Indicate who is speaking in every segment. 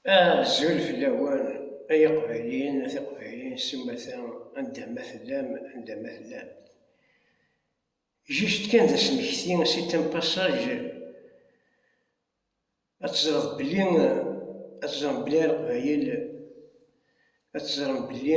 Speaker 1: Azul fell-awen ay iqbayliyen a tiqbayliyin s umata anda ma tellam anda ma tellamt. Juste kan d asmekti, c'est un passage, ad teẓreḍ belli ad teẓrem belli a leqbayel ad teẓrem belli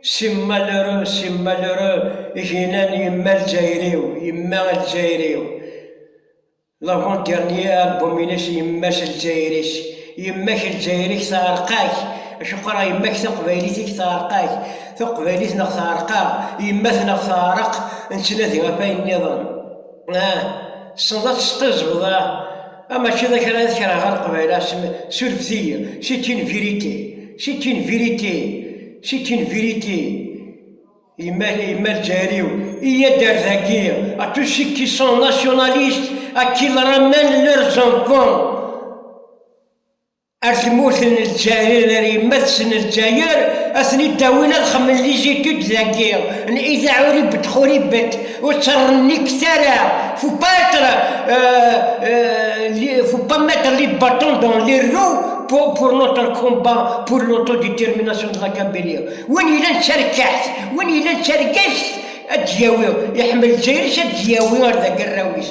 Speaker 1: Simmal ru, simmal ru, gina n yemma Lezzayer-iw, yemma Lezzayer-iw. L'avant dernier album-ines Yemma-s Lezzayer-is. Yemma-k Lezzayer-ik teɛreq-ak, acu qqareɣ yemma-k taqbaylit-ik teɛreq-ak, taqbaylit neɣ teɛreq-aɣ, yemma-tneɣ teɛreq, nettnadi ɣef wayen nniḍen. Ah, tessneḍ ad tesqizbeḍ ah. Ah, mačči d kra i tekreɣ ɣer Leqbayel, surfet-iyi, c'est une vérité, c'est une vérité, c'est une vérité. Yemma yemma Lezzayer-iw, iyyad ar dagi, à tous ceux qui sont nationalistes, à qu'ils ramènent leurs enfants. Ar tmurt n Lezzayer, ar yemma-tsen n Lezzayer, ad ten-id-awin ad xemmen lizitid dagi, n Ida Uribet Xuribet, ur tt-rnikket ara, faut pas être, faut pas mettre les bâtons dans les roues pour, pour notre combat, pour l'autodétermination de la Kabylie. Win yellan d tarkaḥt, win yellan d targest, ad d-yawi, iḥemmel Lezzayer-is ad d-yawi ar d agarraw-is.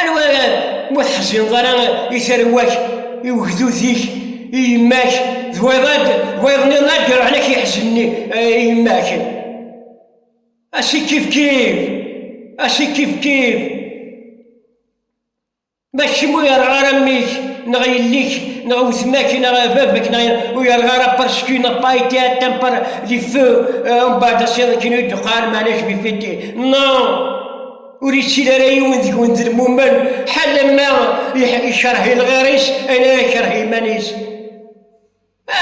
Speaker 1: Anwa ara ma teḥzineḍ ara i tarwa-k, i ugdud-ik, i yemma-k, d wayeḍ ad d wayeḍ nniḍen ad d-iruḥen ak yeḥzen i yemma-k. Asi kifkif, asi kifkif. Ma d kemm ur yerɣa ara mmi-k, neɣ yelli-k, neɣ wetma-k, neɣ baba-k, neɣ ur yerɣa ara parce que n'a pas été atteint par les feux, mbaɛd asiḍen kan i d-uqan, meɛna je me fais des... Non! ur yettil ara yiwen deg-wen d lmumen ḥala ma ikerh i lɣir-is ala ikerh iman-is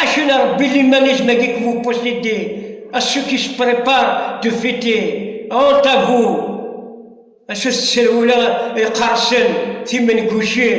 Speaker 1: acu n rebbi limanisme agi que vous possédez à ceux qui se préparent de fêter honte à vous acu tettserwula iqersen timengucin